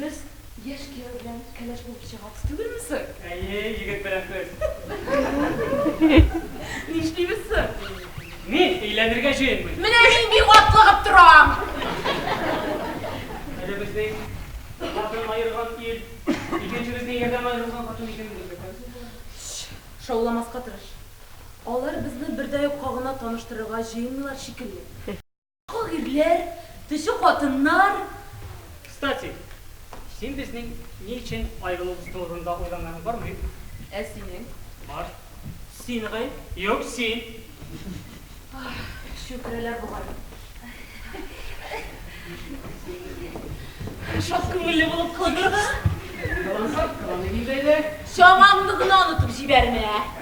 Без яшь кияү белән кәләш булып чыгабыз түгелме соң? Әйе, егет белән көз. Нишлибез соң? Мин өйләнергә җыенмыйм. Менә мин бик атлыгып торам. Әле безнең хатын аерган ир, икенчебезнең ярдәм аерылган хатын икәнен белмәгән соң болар. Шауламаска тырыш. Алар безне бердәюкка гына таныштырырга җыенмыйлар шикелле. Ак ирләр, төче хатыннар. Кстати, син безнең ни өчен аерылуыбыз турында уйлаганың бармы? Ә синең? Бар. Син гай? Юк, син. Чүкерәләр бугай. Шат күңелле булып калдыгыз. Кылансак, кыланыйк инде, әйдә. Чамаңны гына онытып җибәрмә.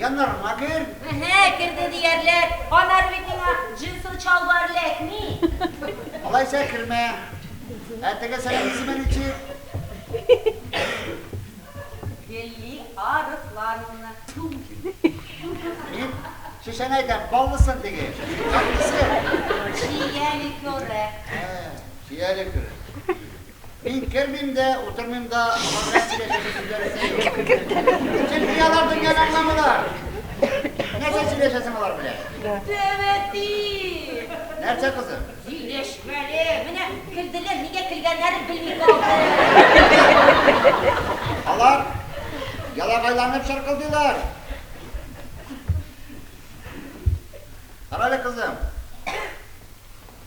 Яннарыңа кер! Әһә, керде диярлек. Аннары бит миңа джинсовый чалбар эләкми. Алайса кермә. Ә тегесенең исеме ничек? Гелли Арыслановна. Тфү! Мин шешәне әйтәм, баллысын теге. Кайсысы? Чия ликеры. Ә, чия ликеры. Мин кермим дә, утырмыйм да, аларга сөйләшәсе сүзләрем дә юк. Чөнки алар дөньяны аңламыйлар. Нәрсә сөйләшәсең алар белән? Тәбәти! Нәрсә, кызым? Сөйләшмәле. Менә көлделәр, нигә көлгәннәрен белми калдым. Алар ялагайланып чыркылдыйлар. Карале, кызым.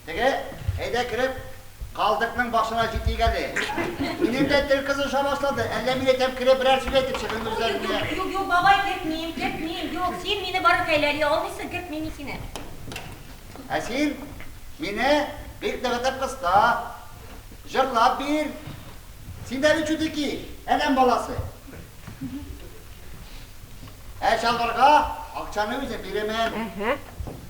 Теге, әйдә кереп, калдыкның башына җитик әле. Минем дә тел кызыша башлады, әллә мин әйтәм, кереп берәр сүз әйтеп чыгыйм үзләренә. Юк, юк, юк, бабай, кертмим, кертмим, юк, син мине бары кәйләли алмыйсың, кертмим мин сине. Ә син мине бик нык итеп кыста, җырлап бир. Син дә бит чутеки, адәм баласы. Ә чалбарга акчаны үзем бирәмен.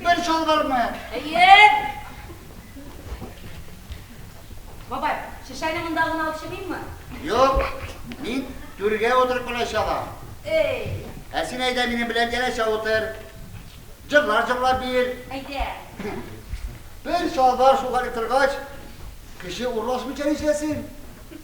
Бер чалбармы? Әйе. Бабай, шешәне монда гына алып чыгыйммы? Юк, мин түргә утырып кына чабам. Эй! Ә син әйдә минем белән янәшә утыр. Җырлар җырлап бир. Әйдә. Бер чалбар шугарып торгач, кеше урлашмыйча нишләсен?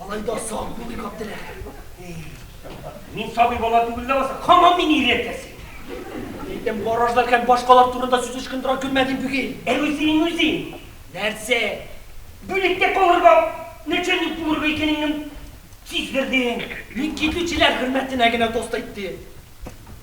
Алай да сак булыйк, Габделәхәм. Мин сабый бала түгел ләбаса, хамам мин ир әтәсе. Әйтәм, гаражлар һәм башкалар турында сүз ычкындыра күрмәдем бүген. Ә үзең үзең. Нәрсә? Бүлектә калырга, начальник булырга икәнеңне сиздердең. Мин китүчеләр хөрмәтенә генә тост әйттем.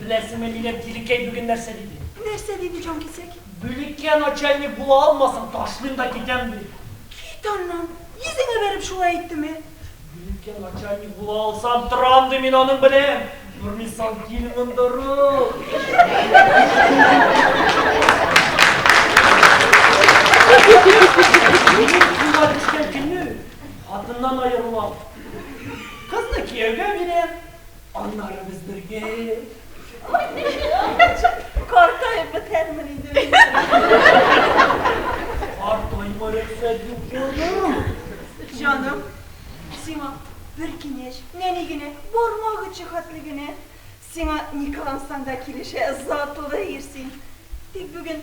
Беләсеңме, минем Тилекәй бүген нәрсә диде? Нәрсә диде, җанкисәк? Бүлеккә начальник була алмасам, ташлыйм да китәм, ди. Кит аннан! Йөзеңә бәреп шулай әйттеме? Бүлеккә начальник була алсам, торам, ди, мин аның белән! Тормыйсаң, кил монда, Минем кулга төшкән көнне хатыннан аерылам. Кызны кияүгә бирәм. Аннары без бергә. Картаеп бетәрмен инде мин. Картайма, рөхсәт юк, җаным. Җаным, сиңа бер киңәш, нәни генә, бармак очы хәтле генә. Сиңа ни кылансаң да килешә, затлы ир син. Тик бүген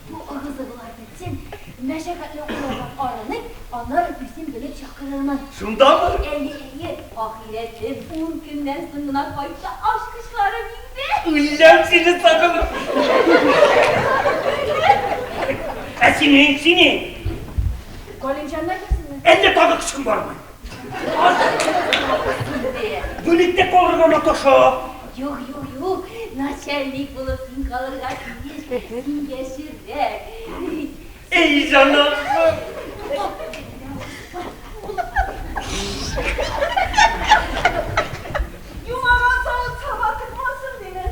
Бу ыгы-зыгылар бетсен, мәшәкатьле укулардан арынып, аннары үзем белеп чакырырмын. Шундамы? Әйе, әйе, ахирәтем, ун көннән соң гына кайтса, ачкычларым инде. Үләм сине сагынып. Ә синең, синең? Галимҗаннар килсенме? Әллә тагы көчкең бармы? Бүлектә калырга маташа. Юк, юк, юк, начальник булып син калырга тиеш, син яшеррәк. Эй, җаным! Юмага салып чаба тормасын, димен.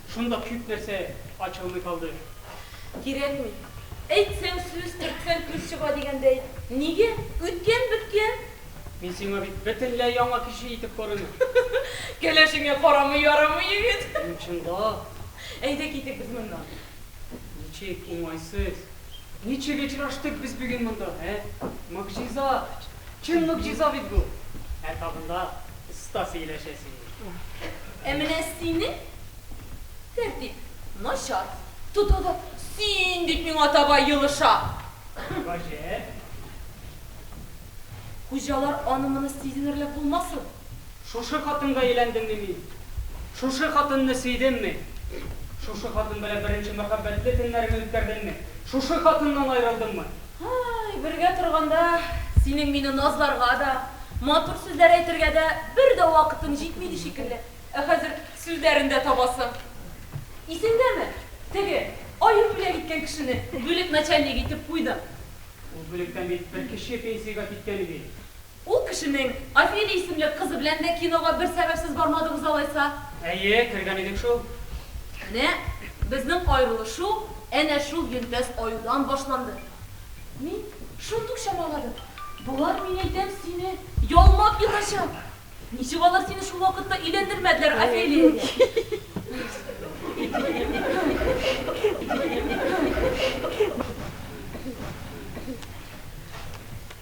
Шундук чүп нәрсә ачылмый калды. Кирәкми. Әйтсәң сүз, төртсәң күз чыга дигәндәй. Нигә? Үткән-беткән. Мин сиңа бит бөтенләй яңа кеше итеп күренәм. Кәләшеңә карамый ярамый, егет. Мин чынлап. Әйдә китик без моннан. Ничек уңайсыз. Ничек очраштык без бүген монда, ә? Могҗиза! Чынлык җиза бит бу. Ә тагында оста сөйләшә син. Ә менә синең тәртип начар. Тотыгы син дип миңа таба елыша. Гаҗәп. Хуҗалар аны-моны сизенерлек булмасын. Шушы хатынга өйләндемме мин? Шушы хатынны сөйдемме? Шушы хатын белән беренче мәхәббәтле төннәремне үткәрдемме? Шушы хатыннан аерылдыммы? Һай, бергә торганда, синең мине назларга да, матур сүзләр әйтергә дә бер дә вакытың җитмиде шикелле, ә хәзер сүзләрен дә табасың. Исеңдәме, теге, аеп бүләк иткән кешене бүлек начальнигы итеп куйдың? Ул бүлектән бит бер кеше пенсиягә киткән иде. Ул кешенең Офелия исемле кызы белән дә кинога бер сәбәпсез бармадыгыз алайса? Әйе, кергән идек шул. Менә безнең аерылышу әнә шул йөнтәс аюдан башланды. Мин шундый ук чамаладым. Болар, мин әйтәм, сине ялмап ятачак. Ничек алар сине шул вакытта өйләндермәделәр Офелиягә?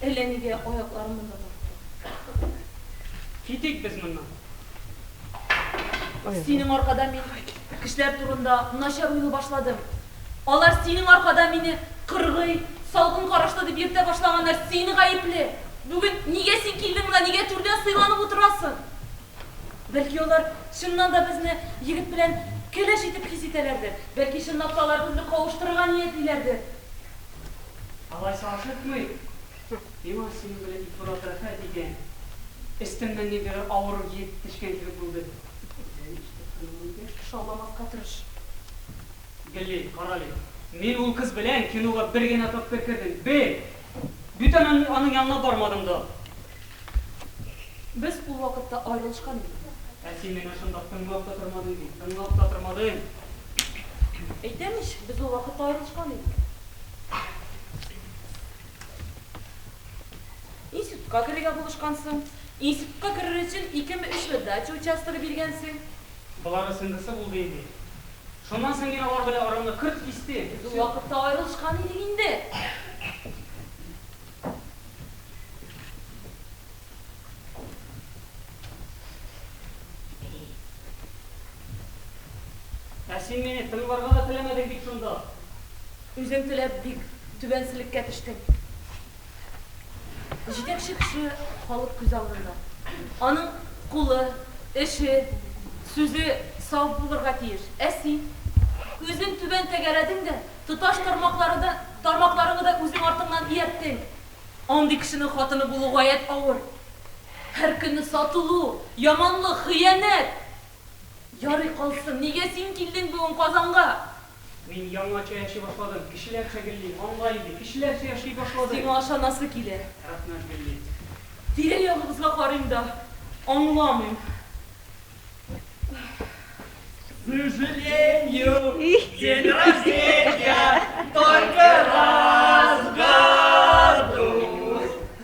Әллә нигә аякларым монда тартты. Китик без моннан. Синең аркада мин кешеләр турында начар уйлый башладым. Алар синең аркада мине кыргый, салкын карашлы дип йөртә башлаганнар. Син гаепле. Бүген нигә син килдең монда, нигә түрдән сыйланып утырасың? Бәлки алар чыннан да безне егет белән кәләш итеп хис итәләрдер. Бәлки чынлап та алар безне кавыштырырга ниятлиләрдер. Алайса ашыкмый, миңа синең белән икебуран рәхәт дигән өстемнән ниндидер авыр йөк төшкән кебек булды. Үзең ишетеп тормаган яшь кеше алдамаска тырыш. Гли, карале, мин ул кыз белән кинога бер генә тапкыр кердем. Бер! Бетәмен, мин аның янына бармадым да. Без ул вакытта аерылышкан идек. Ә син мине шунда тыңлап та тормадың бит, тыңлап та тормадың. Әйтәм ич, без ул вакытта аерылышкан идек. Институтка керергә булышкансың. Институтка керер өчен икеме-өчме дача участогы биргәнсең. Болар өчен нәрсә булды инде? Шуннан соң мин алар белән арамны кырт кистем. Без ул вакытта аерылышкан идек инде. Ә син мине тыңларга да теләмәдең бит шунда. Үзең теләп бик түбәнселеккә төштең. Җитәкче кеше халык күз алдында. Аның кулы, эше, сүзе саф булырга тиеш. Ә син? Үзең түбән тәгәрәдең дә, тоташ тармакларыңны да үзең артыңнан иярттең. Андый кешенең хатыны булу гаять авыр. Һәр көнне сатылу, яманлык, хыянәт! Ярый калсын, нигә син килдең бүген Казанга? Мин яңача яши башладым. Кешеләрчә гелли. Аңла инде, кешеләрчә яши башладым. Сиңа ышанасы килә. Рәхмәт, гелли. Тирә-ягыбызга карыйм да, аңламыйм. Сожалению, день рождения только раз в году.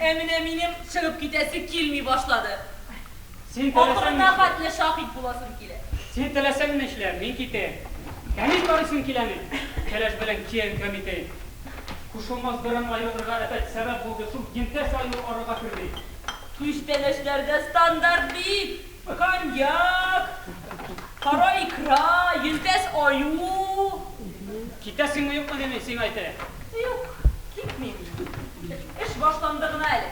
Ә менә минем чыгып китәсе килми башлады. Ахырына хәтле шаһит буласым килә. Син теләсәң нишлә, мин китәм. Кәмил карыйсың киләме? Кәләш белән киян Кәмитәй кушылмас берәм аерылырга әпәт сәбәп булды, шул йөнтәс аеру арага керде. Күчтәнәчләрдә стандарт бит! Коньяк, кара икра, йөнтәс аю. Китәсеңме-юкмы, дим мин сиңа, әйтә. Юк, китмим. Эш башланды гына әле.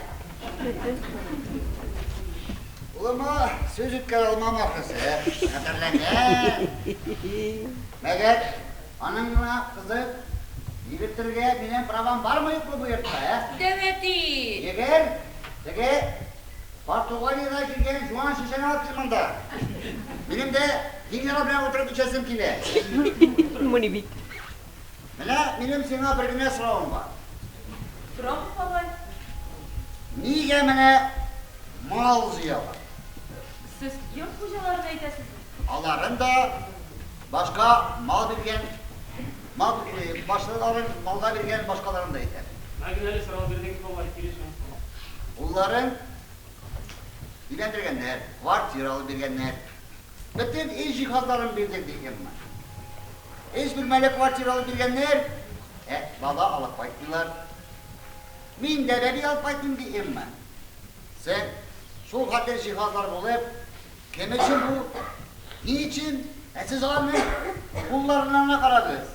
Улыма сүз үткәрә алмам, ахрысы. Хәтерләгән. Мәгәр аның гына кызы йөгертергә минем правам бармы-юкмы бу йортта, ә? Дәү әти! Йөгер, теге Португалиягә килгән җуан шешәне алып кил монда. Минем дә генерал белән утырып эчәсем килә. Мони бит. Менә минем сиңа бер генә соравым бар. Сорагыз, бабай. Нигә менә мал җыялар? Сез йорт хуҗаларын әйтәсезме? Аларын да, башка мал биргән. Мал, башлыларын малга биргән, башкаларын да әйтә. Мә генә әле сорау бирдең, алай килешәм. Улларын өйләндергәннәр, квартира алып биргәннәр. Бөтен өй җиһазларын бирдек, ди Эмма. Өч бүлмәле квартира алып биргәннәр, ә бала алып кайтмыйлар. Мин дә бәби алып кайтмыйм, ди Эмма. Соң, шул хәтле җиһазлар булып, Кем өчен бу? Ни өчен? Ә сез аларның кулларына гына карагыз.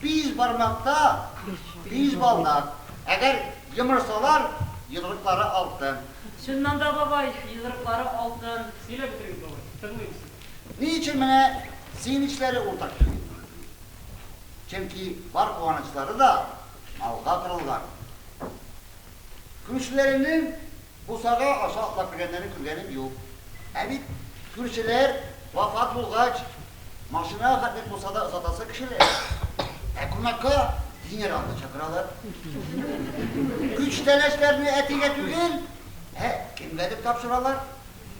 Биш бармакта биш балдак. Әгәр йомырсалар, йодрыклары алтын. Чыннан да, бабай, йодрыклары алтын. Сөйләп бетерегез, бабай, тыңлыйм сезне. Ни өчен менә сөенечләре уртак килми? Чөнки бар куанычлары да малга корылган. Күршеләренең Бусага аша атлап кергәннәрен күргәнем юк. Ә бит күршеләр вафат булгач, машина хәтлек булса да озатасы кешеләр. Ә кунакка генералны чакыралар. Күчтәнәчләрне әтигә түгел, ә кемгәдер тапшыралар.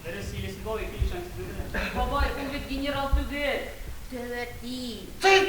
Дөрес, Елисибау ике ишан сүзе генә. Бабай, ул бит генерал түгел, тәвәти. Тыйт!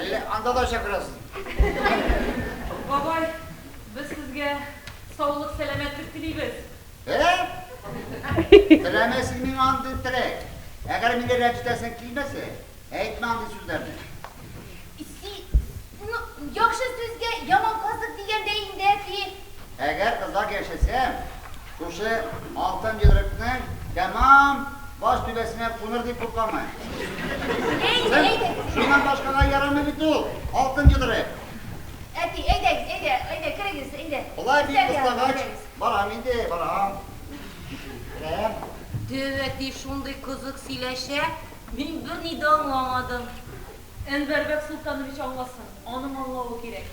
Әллә анда да чакырасызмы? Бабай, без сезгә саулык, сәламәтлек телибез. Ә? Теләмә син миңа андый теләк. Әгәр мине рәнҗетәсең килмәсә, әйтмә андый сүзләрне. Син, ну, яхшы сүзгә яман казык дигәндәй инде, әти. Әгәр озак яшәсәм, шушы алтын йодрыкның тәмам баш түбәсенә куныр дип куркамы? Әйдә, әйдә! Шуннан башкага ярамый бит ул алтын йодрык! Әти, әйдәгез, әйдә, әйдә, керегез, әйдә! Болай бик кыстагач, барам инде, барам. Керәм. Дәү әти шундый кызык сөйләшә, мин берни дә аңламадым. Әнвәрбәк Солтанович аңласын, аның аңлавы кирәк.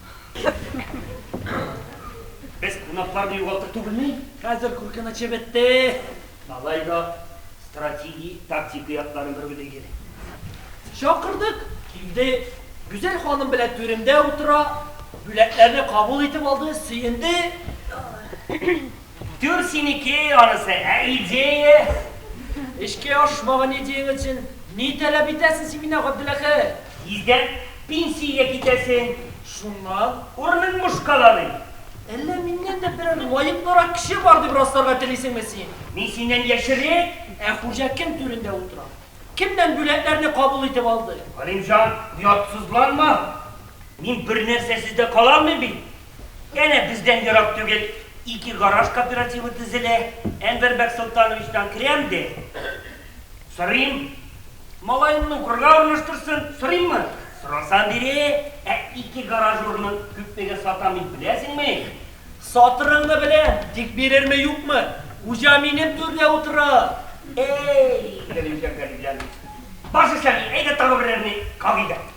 Без кунакларны югалтыр түгелме? Хәзер куркынычы бетте. Алай да стратеги, тактика якларын бер уйлыйк әле. Чакырдык, килде. Гүзәл ханым белән түремдә утыра, бүләкләрне кабул итеп алды, сөенде. Түр синеке анысы, ә идея? Эшкә ашмаган идеяң өчен ни таләп итәсең син миннән, Габделәхәт? Тиздән пенсиягә китәсең. Шуннан? Урының буш кала бит. Әллә миннән дә берәр лаеклырак кеше бар дип расларга телисеңме син? Мин синнән яшьрәк? Ә хуҗа кем түрендә утыра? Кемнән бүләкләрне кабул итеп алды? Галимҗан, оятсызланма. Мин бернәрсәсез дә кала алмыйм бит. Әнә бездән ерак түгел ике гараж кооперативы төзелә. Әнвәр Бәксолтановичтан керәм дә сорыйм. Малаемны укырга урнаштырсын, сорыйммы? Сорасам бирә. Ә ике гараж урынын күпмегә сатам мин, беләсеңме? Сатырыңны беләм, тик бирерме, юкмы? Хуҗа минем түрдә утыра. Әй, Галимҗан, Галимҗан. Баш исән, әйдә тагы берәрне кагыйк әле.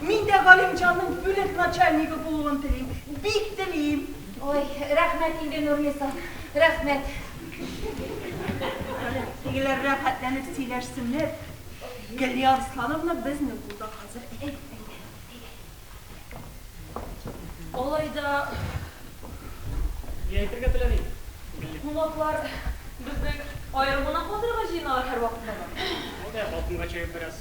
Мин дә Галимҗанның бүлек начальнигы булуын телим. Бик телим. Ой, рәхмәт инде, Нурниса. Рәхмәт. Тегеләр рәхәтләнеп сөйләшсеннәр. Гөлия Арслановна безнең кулда хәзер. Алай да... Ни әйтергә теләдең, Гөлия? Кунаклар безнең аерманы катырга җыеналар һәрвакытта да. Әйдә, балконга чыгып бераз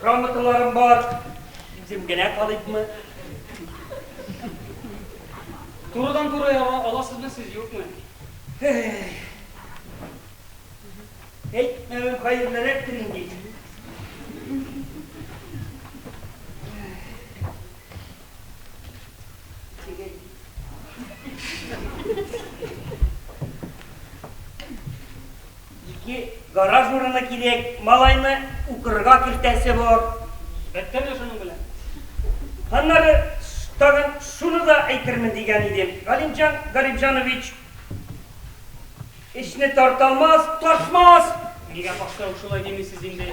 Грамоталарым бар, үзем генә калыйпмы? Турыдан туры яра аласызмы сез юкмы? Әйтмәвем хәерлерәктер инде. Тегел. Ике гараж урыны кирәк, малайны укырга кертәсе бар. Беттеме шуның белән? Аннары тагын шуны да әйтермен дигән идем. Галимҗан Гарипҗанович эшне тарталмас, ташмас! Нигә башта ук шулай димисез инде?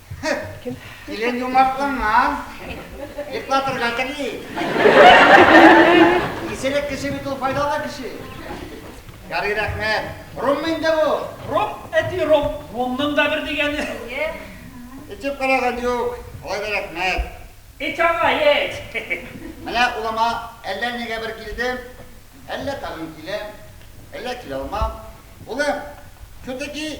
Килен юмартланган. Йоклатырга тели. Исерек кеше бит ул файдалы кеше. Ярый рәхмәт. Ром инде бу. Ром, әти ром. Ромның да бер дигәне. Эчеп караган юк. Алай да рәхмәт. Эч аңа, эч. Менә улыма әллә нигә бер килдем, әллә тагын киләм, әллә килә алмам. Улым, все-таки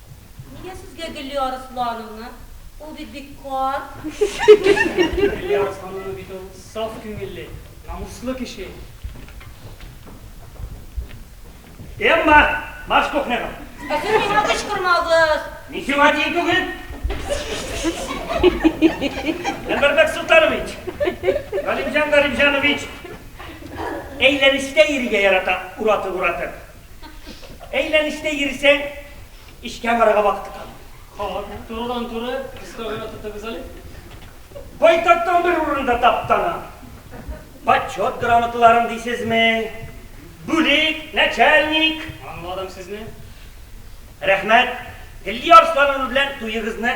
Нигә сезгә Гөлия Арыслановна? Ул бит бик карт. Гөлия Арыслановна бит ул саф күңелле, намуслы кеше. Эмма, марш кухняга! Ә сез миңа кычкырмагыз! Мин сиңа тиң түгел! Әнвәр Бәксолтанович! Галимҗан Галимҗанович! Әйләнештә йөрергә ярата уратып-уратып. Әйләнештә йөрсәң, эшкә барырга вакыты калмый. Халык, турыдан-туры, кыска гына тотыгыз әле. Байтактан бер урын да таптанам. Почет грамоталарын дисезме? Бүлек, начальник. Аңладым сезне. Рәхмәт. Гөллия Арслановна белән туегызны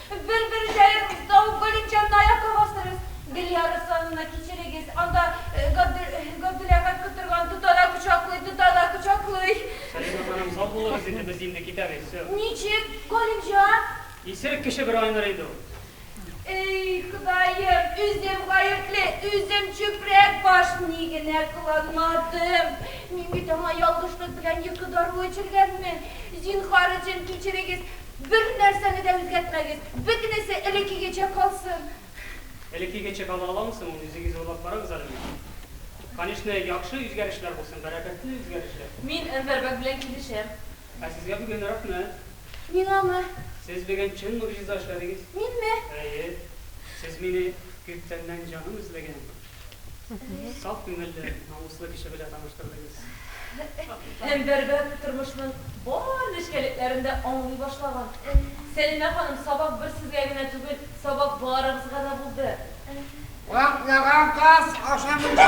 Бер-бер җаен Зауык Галимҗанына аякка бастырыгыз. Гөлия Руслановна, кичерегез, анда Габдул Әхәт котырган, тота да кочаклый, тота да кочаклый. Сәлимә ханым, сау булыгыз инде, без инде китәбез, все. Ничек, Галимҗан? Исерек кеше бер айныр инде ул. Эй, Ходаем, үзем гаепле, үзем чүпрәк баш, ни генә кыланмадым. Мин бит аңа ялгышлык белән йокы даруы эчергәнмен. Зинһар өчен кичерегез. Бер нәрсәне дә үзгәртмәгез, бөтенесе элеккегечә калсын. Элеккегечә кала аламы соң ул, үзегез уйлап карагыз әле бит. Конечно, яхшы үзгәрешләр булсын, бәрәкәтле үзгәрешләр. Мин Әнвәрбәк белән килешәм. Ә сезгә бүген рәхмәт. Миңамы? Сез бүген чын могҗиза эшләдегез. Минме? Әйе. Сез мине күптәннән җаным эзләгән. Саф күңелле, намуслы кеше белә таныштырдыгыз. Һәм Бәрбәт тормышның бар нечкәлекләрен дә аңлый башлаган. Сәлимә ханым, сабак бер сезгә генә түгел, сабак барыбызга да булды. Ватлаган каз ашамыйча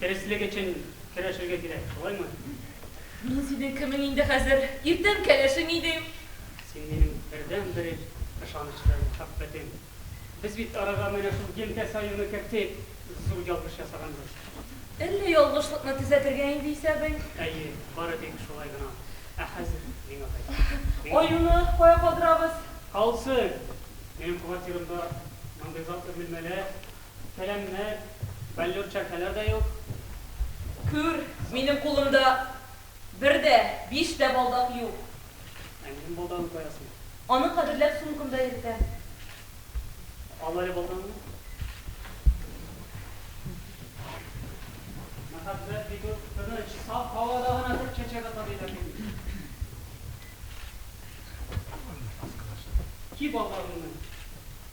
Дөреслек өчен көрәшергә кирәк, шулаймы? Мин синең кемең инде хәзер? Иртән кәләшең идең. Син минем бердәнбер ышанычлы мәхәббәтем. Без бит арага менә шул елкә саюны кертеп, зур ялгыш ясаганбыз. Әллә ялгышлыкны төзәтергә инде исәбең? Әйе, бары тик шулай гына. Ә хәзер миңа кайт. Аюны кая калдырабыз? Калсын! Минем квартирамда мондый затлы бүлмәләр Сәламнәр, баллёр чәркәләр дә юк. Күр, минем кулымда бер дә, биш тә балдак юк. Ә минем балдагын каясың? Аны кадерләп сумкамда йөртәм. Ал әле балтаңны. Мәхәббәт бит ул, тыныч, саф һавада гына төп чәчәк ата диләр бит инде. Ки балдагыңны.